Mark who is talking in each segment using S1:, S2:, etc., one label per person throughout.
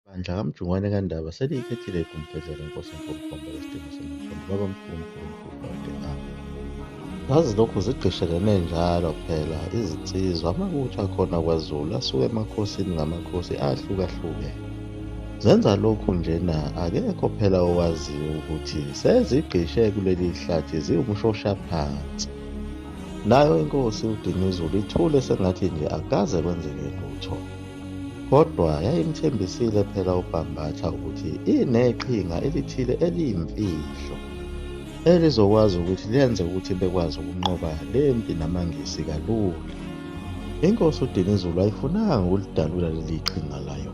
S1: Bandla kaMjungwane kaNdaba seliyikhethile igumbhedla lenkosi uNkulunkulu lesidingo somkhulu baba mkhulu uNkulunkulu kade awo. Zazilokhu zigqishelene njalo phela izinsizwa amabutho akhona kwaZulu asuke emakhosini ngamakhosi ahlukahlukene. Zenza lokhu njena akekho phela owaziyo ukuthi sezigqishe kuleli hlathi ziwumshoshaphansi. Nayo inkosi uDinuzulu ithule sengathi nje akukaze kwenzeke lutho. Kodwa yayimthembisile phela uBhambatha ukuthi ineqhinga elithile eliyimfihlo elizokwazi ukuthi lenze ukuthi bekwazi ukunqoba le mpi namaNgisi kalula. Inkosi uDinizulu ayifunanga ukulidalula leli qhinga layo,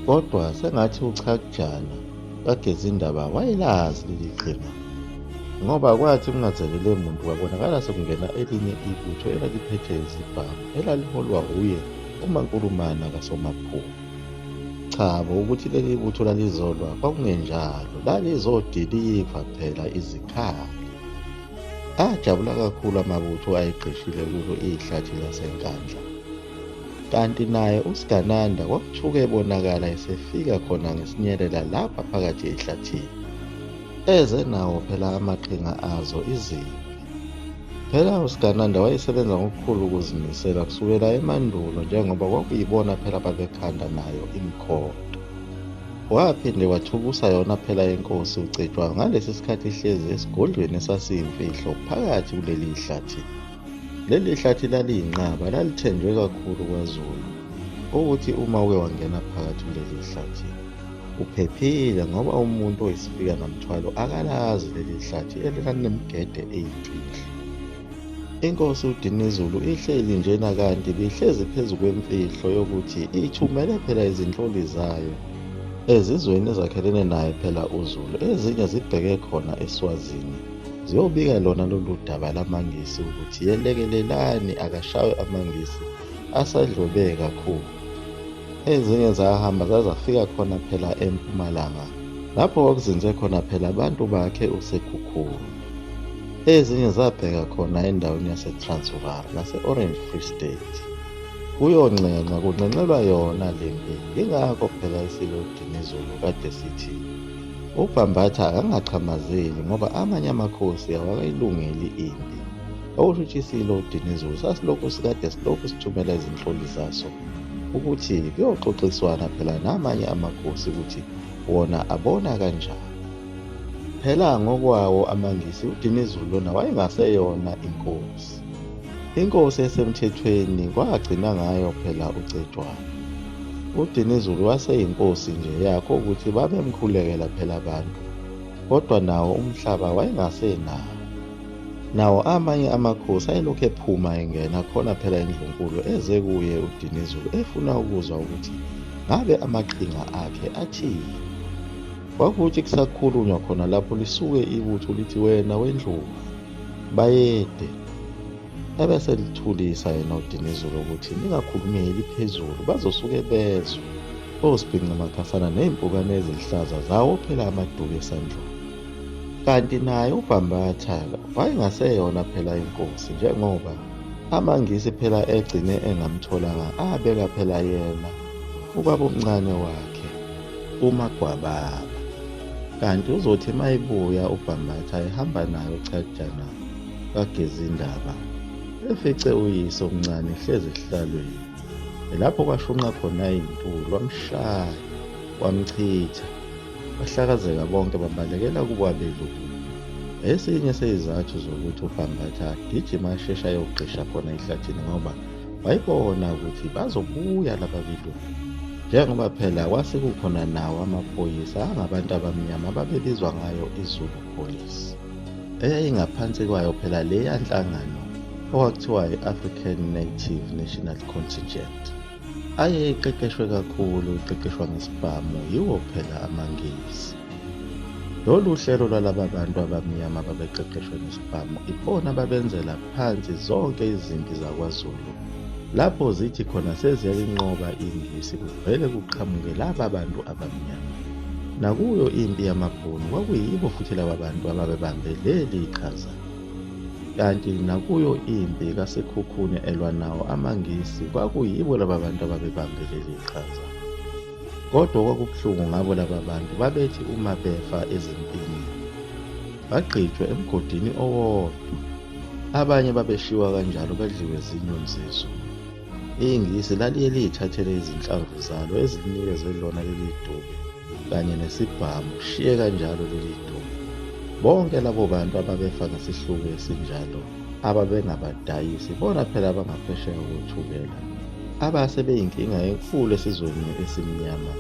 S1: kodwa sengathi uChakujana kaGezindaba wayelazi leli qhinga ngoba kwathi kungazelele muntu kwabonakala sekungena elinye ibutho elaliphethe izibhamu elaliholwa wuye Uma Nkulumana kaSomaphupho. Cha bo ukuthi leli butho lalizolwa kwakungenjalo, lalizodiliva phela izikhali. Ajabula kakhulu amabutho ayegqishile kulo ihlathi laseNkandla. Kanti naye uSigananda kwakuthuke ebonakala esefika khona ngesinyelela lapha phakathi ehlathini. eze nawo phela amaqhinga azo izimpi phela usigananda wayesebenza ngokukhulu ukuzimisela kusukela emandulo njengoba kwakuyibona phela babekhanda nayo imikhondo waphinde wathukusa yona phela inkosi ucetshwa ngalesi sikhathi ihlezi esigodlweni esasiyimfihlo phakathi kuleli hlathi leli hlathi laliyinqaba lalithenjwe kakhulu kwazulu ukuthi uma uke wangena phakathi kuleli hlathi Uphephile ngoba umuntu oyisifika namthwalo akalazi leli hlathi elikanemgede eyimfihlo. Inkosi uDinizulu ihleli njena kanti bihlezi phezu kwemfihlo yokuthi ithumele phela izinhloli zayo ezizweni ezakhelene naye phela uZulu ezinye zibheke khona eSwazini ziyobika lona lolu daba lamaNgisi ukuthi yelekelelani akashawe amaNgisi asadlwebeke kakhulu. Ezinye zahamba zazafika khona phela empumalanga lapho kwakuzinze khona phela abantu bakhe uSekhukhulu. Ezinye zabheka khona endaweni yaseTransvaal nase-Orange Free State. Kuyonxenxa kunxenxelwa yona le mpi yingakho phela isilo udinizulu kade sithi ubhambatha akangachamazeli ngoba amanye amakhosi awakayilungeli impi okusho ukuthi isilo udinizulu sasilokhu sikade silokhu sithumela izinhloli zaso ukuthi kuyoxoxiswana phela namanye amakhosi ukuthi wona abona kanjani phela ngokwawo amangisi udinizulu lona wayengaseyona inkosi inkosi esemthethweni kwagcina ngayo phela ucetshwana udinizulu waseyinkosi nje yakho ukuthi babemkhulekela phela abantu kodwa nawo umhlaba wayengasenawo Nawo amanye amakhosi ayelokhu ephuma engena khona phela indlunkulu eze kuye uDinizulu efuna ukuzwa ukuthi ngabe amaqhinga akhe athini. Kwakuthi kusakhulunywa khona lapho lisuke ibutho lithi wena wendlubu bayede ebese lithulisa yena uDinizulu ukuthi ningakhulumeli phezulu bazosuke bezwe osibhinca makhasana ney'mpukane eziluhlaza zawo phela amaduku esandlweni. Kanti naye uBhambathala wayengaseyona phela inkosi njengoba amaNgisi phela egcine engamtholanga abeka phela yena ubabomncane wakhe uMagwababa. Kanti uzothi mayibuya uBhambatha ehamba nayo uchajana kaGezindaba efice uyise omncane ehlezi esihlalweni. Lapho kwashunqa khona izinto wamshaya wamchitha Bahlakazeka bonke babalekela kubo abelungu. Esinye seyizathu zokuthi uBhambatha agijima asheshe ayogqisha khona ehlathini ngoba wayibona ukuthi bazobuya laba belungu. Njengoba phela kwase kukhona nawo amaphoyisa angabantu abamnyama ababebizwa ngayo iZulu Police. Eyayingaphansi kwayo phela leya nhlangano okwakuthiwa i-African Native National Contingent. aye eqeqeshwe kakhulu iqeqeshwa ngesibhamu yiwo phela amangisi lolu hlelo lwalaba bantu abamnyama babeqeqeshwe ngesibhamu ibona babenzela phansi zonke izimpi zakwazulu lapho zithi khona seziyayinqoba ingisi kuvele kuqhamuke laba bantu abamnyama nakuyo impi yamabhunu kwakuyibo futhi laba bantu ababebambe leli qhaza Kanti nakuyo impi kaSekhukhune elwa nawo amaNgisi kwakuyibo laba bantu ababebambe leli qhaza. Kodwa okwakubuhlungu ngabo laba bantu babethi uma befa ezimpini bagqitshwe emgodini owodwa. Abanye babeshiwa kanjalo badliwe zinyoni zezulu. INgisi laliye liyithathele izinhlamvu zalo ezilinikeze lona leli duku. kanye nesibhamu shiye kanjalo leli dumo bonke labo bantu ababefa ngesihluku esinjalo ababengabadayisi bona phela abangaphesheya kothukela abase beyinkinga enkulu esizweni esimnyama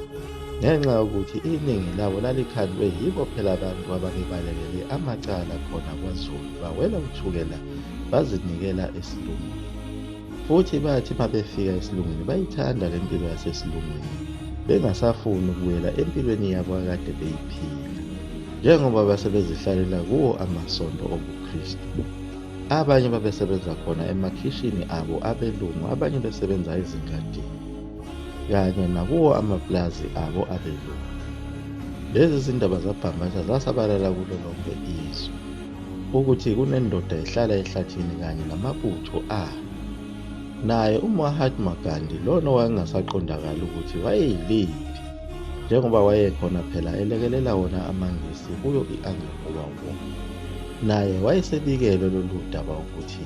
S1: ngenxa yokuthi iningi labo lalikhandwe yibo phela abantu ababebalekele amacala khona kwazulu bawela uthukela bazinikela esilungwini Futhi bathi uma befika esilungwini bayithanda le mpilo yasesilungwini, bengasafuni ukubuyela empilweni yabo akade beyiphila, njengoba base bezihlalela kuwo amasonto obuKristu. Abanye babesebenza khona emakhishini abo abelungu, abanye besebenza ezingadini, kanye nakuwo amapulazi abo abelungu. Lezi zindaba zabhangqaza zasabalala kulo lonke izwe. ukuthi kunendoda ehlala ehlathini kanye namabutho ayo naye umahatma gandhi lona owayengasaqondakali ukuthi wayeyiliphi njengoba wayekhona phela elekelela wona amangisi kuyo i-angola war naye wayesebikelwe lolu daba ukuthi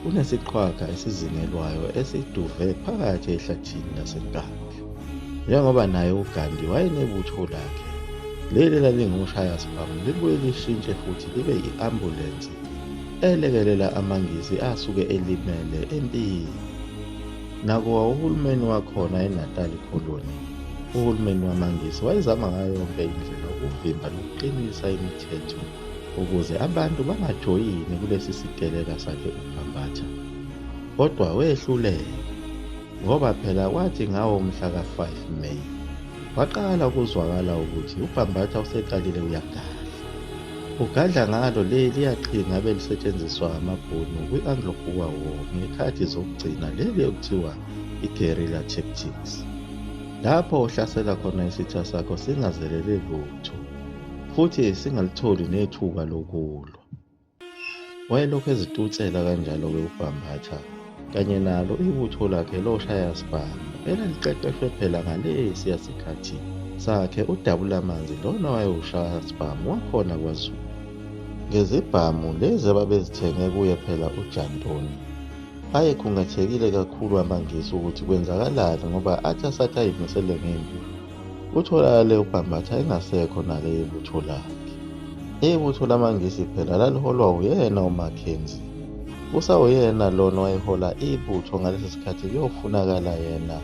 S1: kunesiqhwaga esizingelwayo esiduve phakathi ehlathini lasenkandla Njengoba naye uGandhi wayenebutho lakhe, leli lalingumshaya sibhamu libuye lishintshe futhi libe i-ambulensi elekelela amaNgisi asuke elimele empini. Nakuwa uhulumeni wakhona eNatali Colony, uhulumeni wamaNgisi wayezama ngayo yonke indlela ukuvimba nokuqinisa imithetho ukuze abantu bangajoyini kulesi siteleka sakhe uBhambatha, kodwa wehluleka. ngoba phela kwathi ngawo umhla ka-5 May waqala ukuzwakala ukuthi uBhambatha useqalile uyagadla. Ugadla ngalo le liyaqhinga abelisetshenziswa amaBhunu kwi-Anglo-Boer War ngekhathi zokugcina leli okuthiwa i-guerrilla tactics. Lapho uhlasela khona isitha sakho singazelele lutho futhi singalitholi nethuba lokulwa. Wayelokhu ezitutsela kanjalo-ke uBhambatha kanye nalo ibutho lakhe loshayasibhamu elaliqeqeshwe phela ngalesiya sikhathi sakhe udabulamanzi lona wayewushayasibhamu wakhona kwazulu ngezibhamu lezi ababezithenge kuye phela ujantoni ayekhungathekile kakhulu amangisi ukuthi kwenzakalani ngoba athi asathi ayimisele ngempi Utholakale uBhambatha engasekho nale yebutho lakhe. Ibutho lamaNgisi phela laliholwa uyena uMackenzie. Usawuyena lona owayehola ibutho ngalesi sikhathi kuyofunakala yena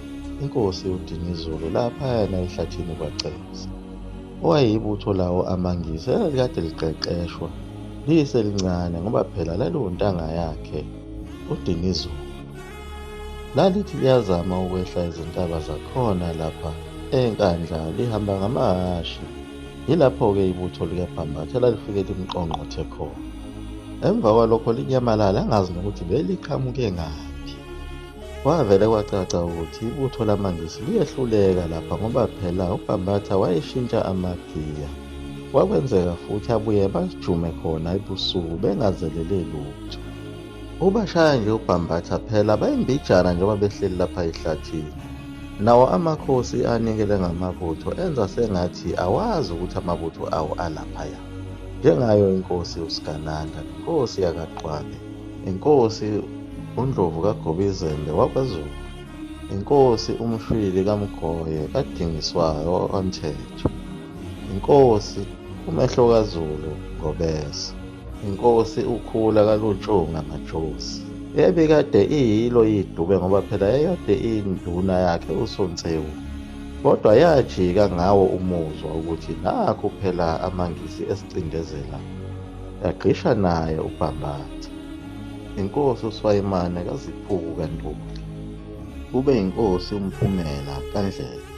S1: inkosi uDinizulu laphayana ehlathini kwaCebisa. Owayeyibutho lawo amaNgisi elalikade liqeqeshwa liyiselincane ngoba phela laliwontanga yakhe uDinizulu. Lalithi liyazama ukwehla izintaba zakhona lapha eNkandla lihamba ngamahhashi. Yilapho-ke ibutho likaBhambatha lalifike limqongqothe khona. Emva kwalokho linyamalala angazi nokuthi beliqhamuke ngaphi. Kwavele kwacaca ukuthi ibutho lamaNgisi liyehluleka lapha ngoba phela uBhambatha wayeshintsha amagiya. Kwakwenzeka futhi abuye bajume khona ebusuku bengazelele lutho. Ubashaya nje ubhambatha phela bayimbijana njengoba behleli lapha ehlathini. Nawo amakhosi anikele ngamabutho enza sengathi awazi ukuthi amabutho awo alaphaya. Njengayo inkosi uSigananda, inkosi yakaQwabe, inkosi uNdlovu kaGobizembe wakwaZulu, inkosi uMshwili kaMgoye kaDingiswayo wakwaMthetho, inkosi uMehlo kaZulu ngobese. inkosi ukhula kalutshunga majosi ebikade iyilo idube ngoba phela yayikade iyinduna yakhe usonsewu kodwa yajika ngawo umuzwa ukuthi nakho phela amangisi esicindezela yagqisha naye ubhambatha inkosi uswayimane kaziphuku kantuli kube inkosi umphumela kandlela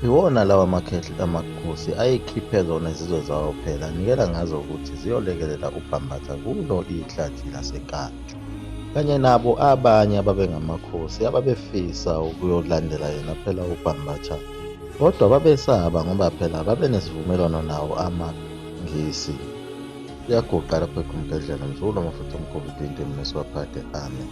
S1: Iwona lawa makhehli amakhosi ayekhiphe zona izizwe zawo phela nikela ngazo ukuthi ziyolekelela uBhambatha kulo ihlathi laseKatsho kanye nabo abanye ababengamakhosi ababefisa ukuyolandela yena phela uBhambatha kodwa babesaba ngoba phela babenesivumelwano nawo amaNgisi kuyaguqa lapho ekhumgedlela mzulu amafuthi omkhulu dinde mnesiwaphade amen